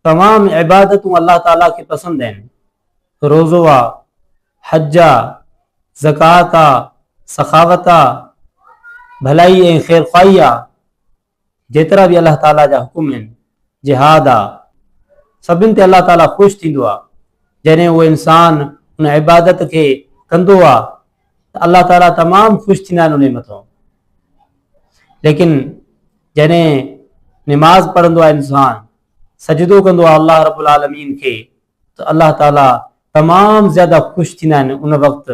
تمام عبادتون الله تعاليٰ کي پسند آهن، روزو آ، حج آ، زڪوات آ، سخاوت آ، ڀلائي ۽ خيرخواهي آ، جيترا به الله تعاليٰ جا حڪم آهن، جهاد آ، سڀن تي الله تعاليٰ خوش ٿيندو آ، جڏهن اهو انسان ان عبادت کي ڪندو آ الله تعالي تمام خوش ٿيندا آهن انهي مٿان ليڪن جڏهن نماز پڙهندو آهي انسان سجدو ڪندو آهي الله رب العالمين کي ته الله تعالي تمام زياده خوش ٿيندا آهن ان وقت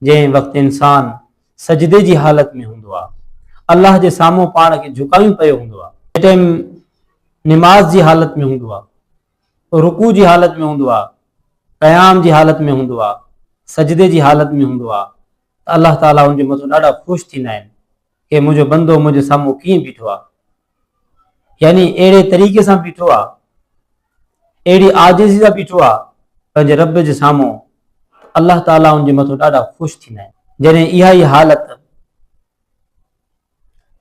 جنهن وقت انسان سجدي جي حالت ۾ هوندو آهي الله جي سامهون پاڻ کي جھڪايون پيو هوندو آهي ٽائم نماز جي حالت ۾ هوندو آهي رڪوع جي حالت ۾ هوندو آهي، قيام جي حالت ۾ هوندو آهي، سجدي جي حالت ۾ هوندو آهي ته الله تعاليٰ ان جي مٿو ڏاڍا خوش ٿيندا آهن ڪي منهنجو بندو منهنجي سامهون ڪيئن بيٺو آهي يعني اهڙي طريقي سان بيٺو آهي اهڙي عاجزي سان بيٺو آهي پنهنجي رب جي سامهون الله تعاليٰ ان جي مٿو ڏاڍا خوش ٿيندا آهن جڏهن اها ئي حالت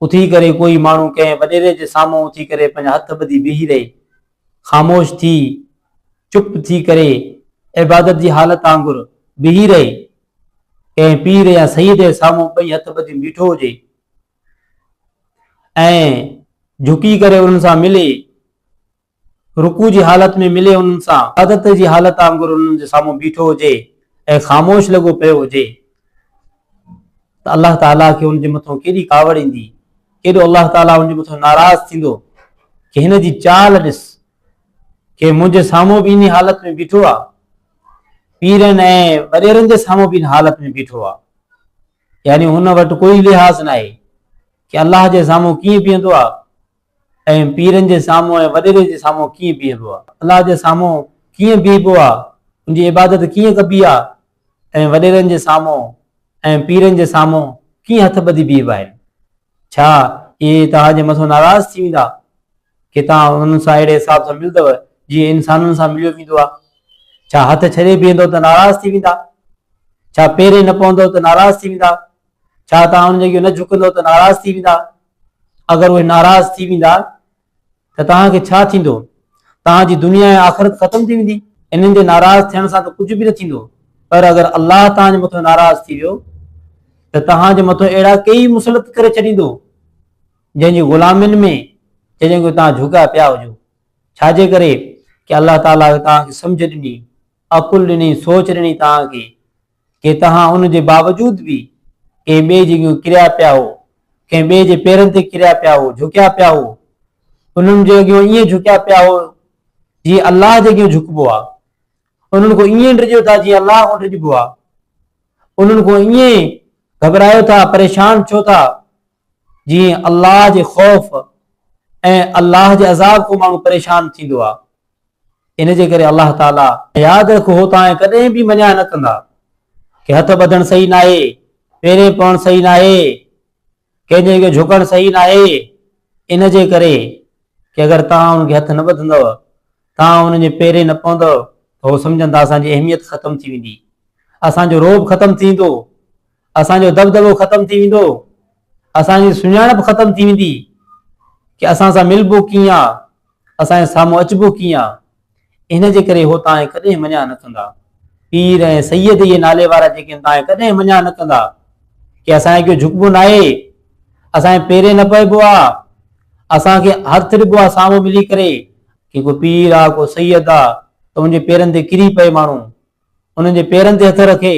اٿي ڪري ڪوئي ماڻهو ڪنهن وڏيري جي سامهون اٿي ڪري پنهنجا هٿ ٻڌي بيهي رهي. خاموش ٿي، چپ ٿي ڪري، عبادت جي حالت آنگر بيهي رهي. ڪنهن پير يا سيد جي سامهون ٻئي هٿ ٻڌي بيٺو هجي ۽ جهڪي ڪري انهن سان ملي رڪوع جي حالت ۾ ملي انهن سان عادت جي حالت آنگر انهن جي سامهون بيٺو هجي ۽ خاموش لڳو پيو هجي ته الله تعاليٰ کي ان جي مٿان ڪيڏي ڪاوڙ ايندي، ڪيڏو الله تعاليٰ ان جي مٿان ناراض ٿيندو ڪي هن جي چال ڏس، ڪي منهنجي سامهون به انهي حالت ۾ بيٺو آ، پيرن ۽ وڏيرن جي سامهون به ان حالت ۾ بيٺو آ، يعني هن وٽ ڪوئي لحاظ ناهي ڪي الله جي سامهون ڪيئن بيهندو آ، ۽ پيرن جي سامهون ۽ وڏيري جي سامهون ڪيئن بيهبو آ؟ الله جي سامهون ڪيئن بيهبو آ؟ ان جي عبادت ڪيئن ڪبي آ؟ ۽ وڏيرن جي سامهون ۽ پيرن جي سامهون ڪيئن هٿ ٻڌي بيهبائي؟ ڇا اهي توهان جي مٿو ناراض ٿي ويندا ڪي توهان انهن سان اهڙي حساب سان ملندؤ جيئن انسانن سان مليو ويندو آ؟ ڇا هٿ ڇڏي بيهندؤ ته ناراض ٿي ويندا؟ ڇا پيرين نه پوندؤ ته ناراض ٿي ويندا؟ ڇا توهان انهن جي اڳيون نه جهڪندؤ ته ناراض ٿي ويندا؟ اگر اهي ناراض ٿي ويندا ته توهان کي ڇا ٿيندو؟ توهان جي دنيا ۽ آخرت ختم ٿي ويندي. انهن جي ناراض ٿيڻ سان ته ڪجهه به نه ٿيندو پر اگر الله توهان جي مٿان ناراض ٿي ويو ته توهان جي مٿان اهڙا ڪيئي مسلط ڪري ڇڏيندو جنهن جي غلامين ۾ جڏهن ڪو توهان جهوڳا پيا هجو. ڇا جي ڪري ڪي الله تعاليٰ توهان کي سمجهه ڏني، عقل ڏني، سوچ ڏني توهان کي. ڪي تهان ان جي باوجود به ڪنهن ٻئي جي اڳيون ڪريا پيا هئو، ڪنهن ٻئي جي پيرن تي ڪريا پيا هئو، جهڪيا پيا هئو، انهن جي اڳيون ائين جهڪيا پيا هئو، جيئن الله جي اڳيون جهڪبو آهي، انهن کان ائين ڊڄو ٿا جيئن الله کان ڊڄبو آهي، انهن کان ائين گهٻرايو ٿا، پريشان ڇو ٿا؟ جيئن الله جي خوف ۽ الله جي عذاب کان ماڻهو پريشان ٿيندو آهي. ان جي ڪري الله تعاليٰ. ياد رک هو توهان ڪڏهن به مڃاء نه ڪندا ڪي هٿ ٻڌڻ صحيح ناهي، پيرين پوڻ صحيح ناهي، ڪنهن جي اڳيان جهڪڻ صحيح ناهي، ان جي ڪري ڪي اگر توهان انهن کي هٿ نه ٻڌندؤ، توهان انهن جي پيرين نه پوندؤ ته هو سمجهندا اسان جي اهميت ختم ٿي ويندي، اسان جو رعب ختم ٿي ويندو، اسان جو دٻدٻو ختم ٿي ويندو، اسان جي سڃاڻپ ختم ٿي ويندي ڪي اسان سان ملبو ڪيئن آ، اسان جي سامهون اچبو ڪيئن آ، ان جي ڪري هو تانء ڪڏهن مڃان نه ڪندا. پير ۽ سيد اهي نالي وارا جيڪي ان تانء ڪڏهن مڃان نه ڪندا ڪي اسان جي اڳيون جهڪبو ناهي، اسان جي پيرين نه پئبو آ، اسان کي هٿ ڏبو آ سامهون ملي ڪري، ڪي ڪو پير آ ڪو سيد آ ته ان جي پيرن تي ڪري پئي ماڻهو، انهن جي پيرن تي هٿ رکي،